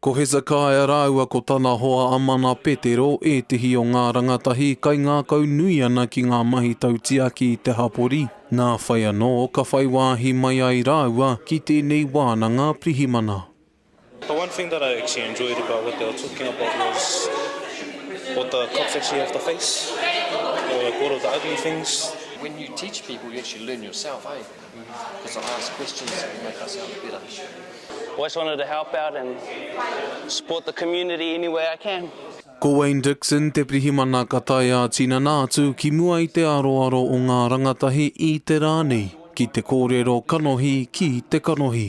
Ko Hezekaia rāua ko tana hoa a Mana Petero ētehi o ngā rangatahi kai ngākau nui ana ki ngā mahi tautiaki i te hapori, nā whai anō ka whai wāhi mai ai rāua ki tēnei wānanga pirihimana. The one thing that I actually enjoyed about what they were talking about was what the cops actually have to face or like all of the ugly things. When you teach people you actually learn yourself, eh? Cause I ask questions to make us help better. I always wanted to help out and support the community any way I can. Ko Wayne Dixon te pirihimana ka tae ā-tinana atu ki mua i te aroaro o ngā rangatahi i te rā nei ki te kōrero kanohi ki te kanohi.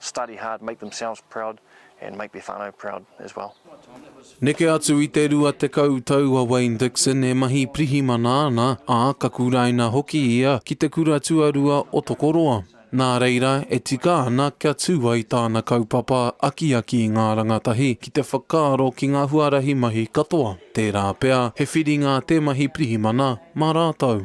Study hard, make themselves proud and make their whanau proud as well. Neke atu i te rua tekau tau a Wayne Dixon e mahi pirihimana ana, ā, ka kuraina hoki ia ki te kura tuarua o Tokoroa. Nā reira, e tika ana kia tū ai tāna kaupapa akiaki i ngā rangatahi ki te whakaaro ki ngā huarahi mahi katoa, tērā pea he whiringa te mahi pirihimana mā rātou.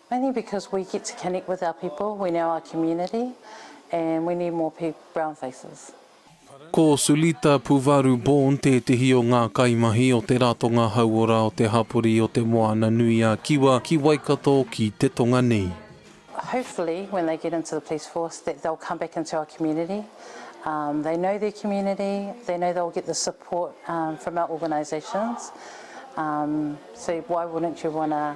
Mainly because we get to connect with our people when our our community and we need more peo brown faces. Ko Sulita Puvaru Bourne tētehi o ngā kaimahi o te Ratonga Hauora o te hapori o Te Moana-nui-a-Kiwa ki Waikato ki te tonga nei. Hopefully when they get into the police force that they'll come back into our community, um they know their community, they know they'll get the support um from our organisations, um so why wouldn't you want to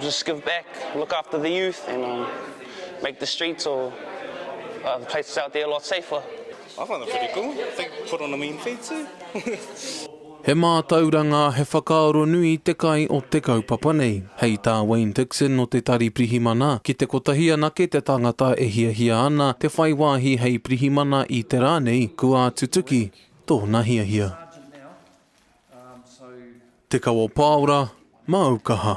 Just give back, look after the youth and um, make the streets or uh, the places out there a lot safer. I find it pretty cool. I think put on a mean feed too. He mātauranga, he whakaaro nui te kai o te kaupapa nei. Hei tā Wayne Dixon o te Tari Pirihimana, ki te kotahi anake te tangata e hiahia ana te whai wāhi hei pirihimana i te rā nei, kua tutuki tōna hiahia. Te Kawa Paora, Māu Kaha.